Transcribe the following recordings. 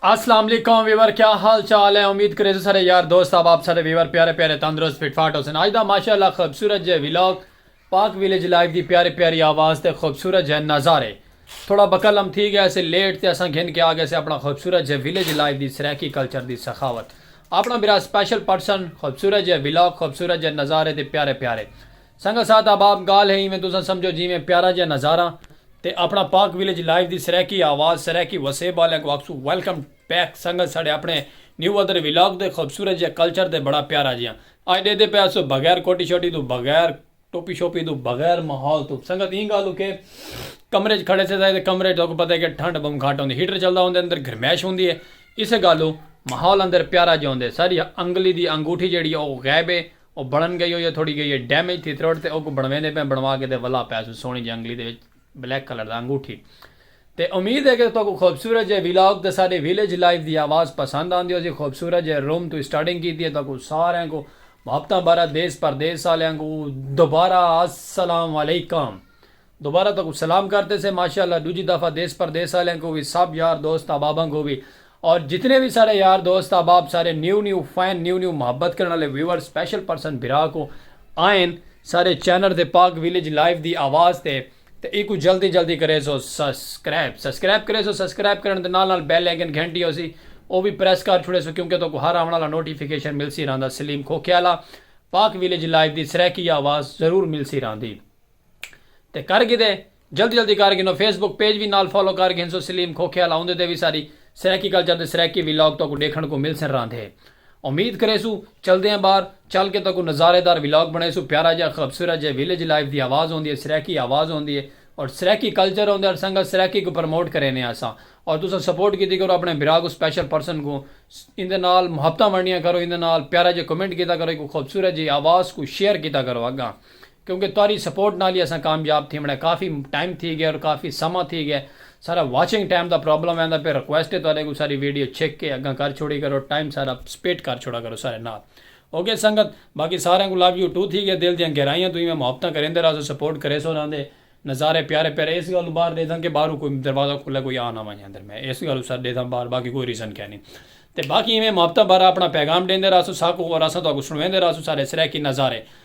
السلام علیکم ویور کیا حال چال ہے امید کرے سو سارے یار دوست آپ آپ سارے ویور پیارے پیارے تندرست فٹ فاٹ ہوسن آج دا ماشاءاللہ خوبصورت جے ویلاگ پاک ویلیج لائف دی پیارے پیاری آواز تے خوبصورت جے نظارے تھوڑا بکل ہم تھی گیا سے لیٹ تے اساں گھن کے آگے سے اپنا خوبصورت جے ویلیج لائف دی سریکی کلچر دی سخاوت اپنا برا اسپیشل پرسن خوبصورت جے ولاگ خوبصورت جے نظارے تے پیارے پیارے سنگت ساتھ احباب گالھ ہے ایویں تساں سمجھو جیویں پیارا جیہا نظاراں تے اپنا پاک ولیج لائیو دی سرائیکی آواز سرائیکی وسیب آلیاں کوں آکھسوں ویلکم بیک سنگت ساڈے اپنے نیو ادر ولاگ تے خوبصورت جے کلچر تے بڑا پیارا جیہاں اج ڈیدے پئے ہسوں بغیر کوٹی شوٹی توں بغیر ٹوپی شوپی توں بغیر ماحول توں سنگت ایں گالھ اکھے کمرے اچ کھڑے سیساں تے کمرے اچ تہاکوں پتہ ہے کہ ٹھنڈ بہوں گھٹ ہوندی ہیٹر چلدا ہوندے اندر گھرمیش ہوندی ہے اسے گالھوں ماحول اندر پیارا جیہا ہوندے ساڈی انگلی دی انگوٹھی جیہڑی ہے او غائب ہے او بنن گئی ہوئی ہے تھوڑی گئی ہے ڈیمیج تھی تروڑ تے اوکوں بنویندے پئے بنوا کے تے ولا پیسوں سوہنی جیہی انگلی دے وچ بلیک کلر دا انگوٹھی تے امید ہے کہ تہاکوں خوبصورت جئے ویلاگ تے ساڈی ویلیج لائف دی آواز پسند آندی ہوسی خوبصورت جئے روم توں اسٹارٹنگ کیتی ہے تہاکوں ساریاں کوں محبتاں بھرا دیس پردیس آلیاں کوں دوبارہ السلام علیکم دوبارہ تہاکوں سلام کرتے سے ماشاءاللہ ڈوجھی دفعہ دیس پردیس آلیاں کوں وی سب یار دوست احباباں کوں وی اور جتنے وی ساڈے یار دوست احباب سارے new new fan new new محبت کرن آلے ویوئر سپیشل پرسن بھرا کو آئین سارے چینل تے پاک ویلیج لائیو دی آواز تے تے ایکوں جلدی جلدی کریسو سسکرائب سسکرائب کریسو سسکرائب کرن دے نال نال بیل آئیکن گھنٹی ہوسی او وی پریس کر چھوڑیسو کیونکہ تہاکوں ہر آون آلا نوٹیفیکیشن ملسی رہندا سلیم کھوکھے آلا پاک ویلیج لائیو دی سرائیکی آواز ضرور ملسی رہندی۔ تے کر گھدے جلدی جلدی کر گھنو فیس بک پیج وی نال فالو کر گھنسو سلیم کھوکھے آلا اوندے تے وی ساری سرائیکی کلچر دے سرائیکی ولاگ تہاکوں ڈیکھن کوں ملسن راہندے امید کریسوں چلدے آں باہر چل کے تہاکوں نظارے دار ولاگ بنڑیسوں پیارا جیہا خبصورت جیہے ویلیج لائف دی آواز ہوندی ہے سرائیکی آواز ہوندی ہے اور سرائیکی کلچر ہوندا ہے سنگت سرائیکی کوں پرموٹ کرینے آں اساں اور تساں سپورٹ کیتی کرو اپنے بھرا کوں سپیشل پرسن کوں ایندے نال محبتاں ونڈیاں کرو ایندے نال پیارا جیہا کمنٹ کیتا کرو ایکوں خوبصورت جیہی آواز کوں شیئر کیتا کرو اگاں کیونکہ تہاڈی سپورٹ نال ہی اساں کامیاب تھیونڑ اے کافی ٹائم تھی گئے اور کافی سماں تھی گئے سارا واچنگ ٹائم دا پرابلم ویندا پئے ریکویسٹ اے تہاڈے کوں ساری ویڈیو چھک کے اگاں کر چھوڑی کرو ٹائم سارا سپیٹ کر چھوڑا کرو سارے نال اوکے سنگت باقی ساریاں کوں لو یو ٹو تھی گئے دل دیاں گہرائیاں توں ایویں محبتاں کریندے راہسو سپورٹ کریسو انہاں دے نظارے پیارے پیارے اس گالوں باہر ڈیدھاں کے باہروں کوئی دروازہ کھلے کوئی آ نہ ونجے اندر میں اس گالوں سر ڈیدھاں باہر باقی کوئی ریزن کینی تے باقی ایویں محبتاں بھرا اپنا پیغام ڈیندے راہسو ساکوں اور اساں تہاکوں سنڑویندے راہسوں سارے سرائیکی نظارے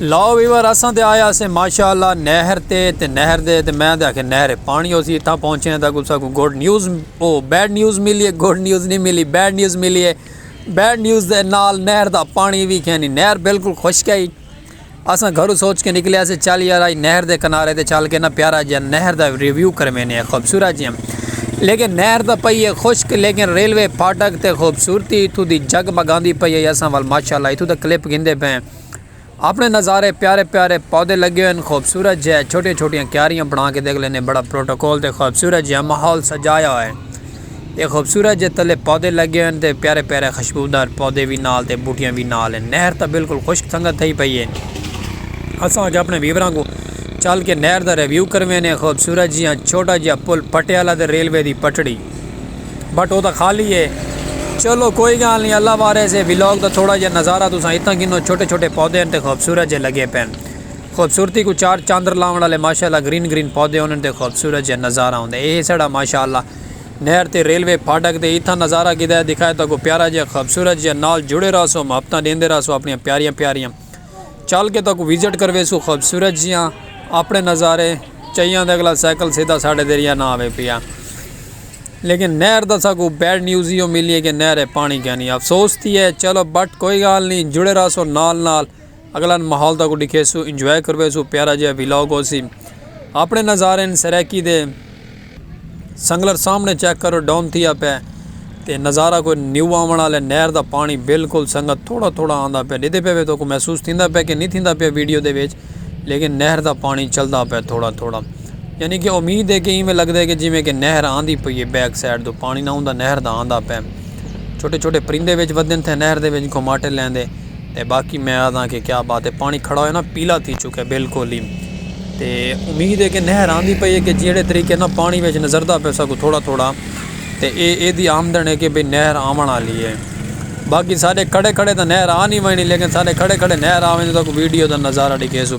لاؤ ویور اساں تے آیا سے ماشاءاللہ نہر تے تے نہر دے تے میں تے آکھے نہر پانی ہوسی اتھاں پہنچے ہیں تاکہ اسا کو گڈ نیوز او بیڈ نیوز ملی ہے گڈ نیوز نہیں ملی بیڈ نیوز ملی ہے بیڈ نیوز دے نال نہر دا پانی بھی کھینی نہر بالکل خشک ہے اساں گھروں سوچ کے نکلے ہاسے چل یار آج نہر دے کنارے تے چل کے نہ پیارا جیہاں نہر دا ریویو کروینے آں خوبصورت جیہاں لیکن نہر تاں پئی ہے خشک لیکن ریلوے پھاٹک تے خوبصورتی اتھوں دی جگ مگاندی پئی ہے اساں ول ماشاءاللہ اتھوں دا کلپ گھندے پئے ہیں اپنے نظارے پیارے پیارے پودے لگے ہوئے ہیں خوبصورت جیہاں چھوٹیاں چھوٹیاں کیاریاں بنا کے دیکھ لینے بڑا پروٹوکول تے خوبصورت جیہاں ماحول سجایا ہوئے ہیں۔ تے خوبصورت جے تلے پودے لگے ہن تے پیارے پیارے خوشبودار پودے وی نال تے بوٹیاں وی نال ہن نہر تاں بالکل خشک سنگت تھئی پئی ہے اساں اج اپنے ویوراں کوں چل کے نہر دا ریویو کروینے خوبصورت جیاں چھوٹا جیاں پل پٹے آلا تے ریلوے دی پٹڑی بٹ او تاں خالی ہے چلو کوئی گال نہیں اللہ وارث ہے ولاگ دا تھوڑا جیاں نظارہ تساں اتنا گھنو چھوٹے چھوٹے پودے ہن تے خوبصورت جے لگے پین۔ خوبصورتی کوں چار چاندر لاونڑ آلے ماشاءاللہ گرین گرین پودے ہونن تے خوبصورت جیہا نظارہ ہوندے اے ساڑا ماشاءاللہ نہر تے ریلوے پھاٹک تے اتھاں نظارہ کیتا ہے دکھائے تہاکوں پیارا جیہا خوبصورت جیہا نال جڑے رہسو محبتاں ڈیندے رہسو اپنڑیاں پیاریاں پیاریاں چل کے تہاکوں وزٹ کرویسوں خوبصورت جیہاں اپنڑے نظارے چیاں دے اگلا سائیکل سیدھا ساڈے دریا نہ آوے پیا لیکن نہر دا ساکوں بیڈ نیوز ایہو ملی ہے کہ نہر اے پانڑی کینی افسوس تھی ہے چلو بٹ کوئی گال نی جڑے رہسو نال نال۔ اگلا ماحول تاکوں ڈکھیسو انجوائے کرویسو پیارا جیہا ویلاگ ہوسی اپنے نظارے ہن سرائیکی دے سنگلر سامنے چیک کرو ڈاؤن تھیا پے تے نظارہ کوئی نیو آون آلے نہر دا پانی بالکل سنگت تھوڑا تھوڑا آندا پے ڈیدھے پے وے تاکوں محسوس تھیندا پے کہ نی تھیندا پیا ویڈیو دے وچ لیکن نہر دا پانی چلدا پے تھوڑا تھوڑا یعنی کہ امید ہے کہ ایویں لگدا ہے کہ جویں کہ نہر آندی پئی ہے بیک سائیڈ تو پانی نہ ہوندا نہر دا آندا پے چھوٹے چھوٹے پرندے وچ ودھن تھے نہر دے وچ گھماٹے لیندے۔ تے باقی میں آکھداں کہ کیا بات ہے پانی کھڑا ہوئے نا پیلا تھی چکا ہے بالکل ہی تے امید ہے کہ نہر آندی پئی ہے کہ جیڑھے طریقے نا پانی وچ نظردہ پے سکوں تھوڑا تھوڑا تے اے اے دی آمدن ہے کہ بھئی نہر آون آلی ہے باقی سارے کھڑے کھڑے تے نہر آ نہیں ونی لیکن سارے کھڑے کھڑے نہر آ ونی تاکوں ویڈیو دا نظارہ ڈیکھے سوں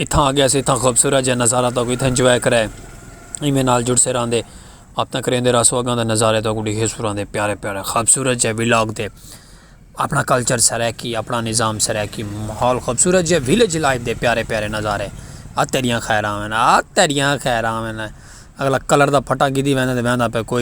اتھاں آ گیاسے اتھاں خوبصورت جیہاں نظارہ تہاکوں اتھاں انجوائے کرائے ایویں نال جڑتے رہندے اپنا کریندے رہسوں اگاں دے نظارے تہاکوں ڈیکھے سراں دے پیارے پیارے خوبصورت جیہے ولاگ دے اپنا کلچر سرائیکی اپنا نظام سرائیکی ماحول خوبصورت جیہے ولیج لائف دے پیارے پیارے نظارے آ تیڈیاں خیراں وینا آ تیڈیاں خیراں وینا اگلا کلر دا پھٹا گدھی ویندا تے ویندا پے کوئی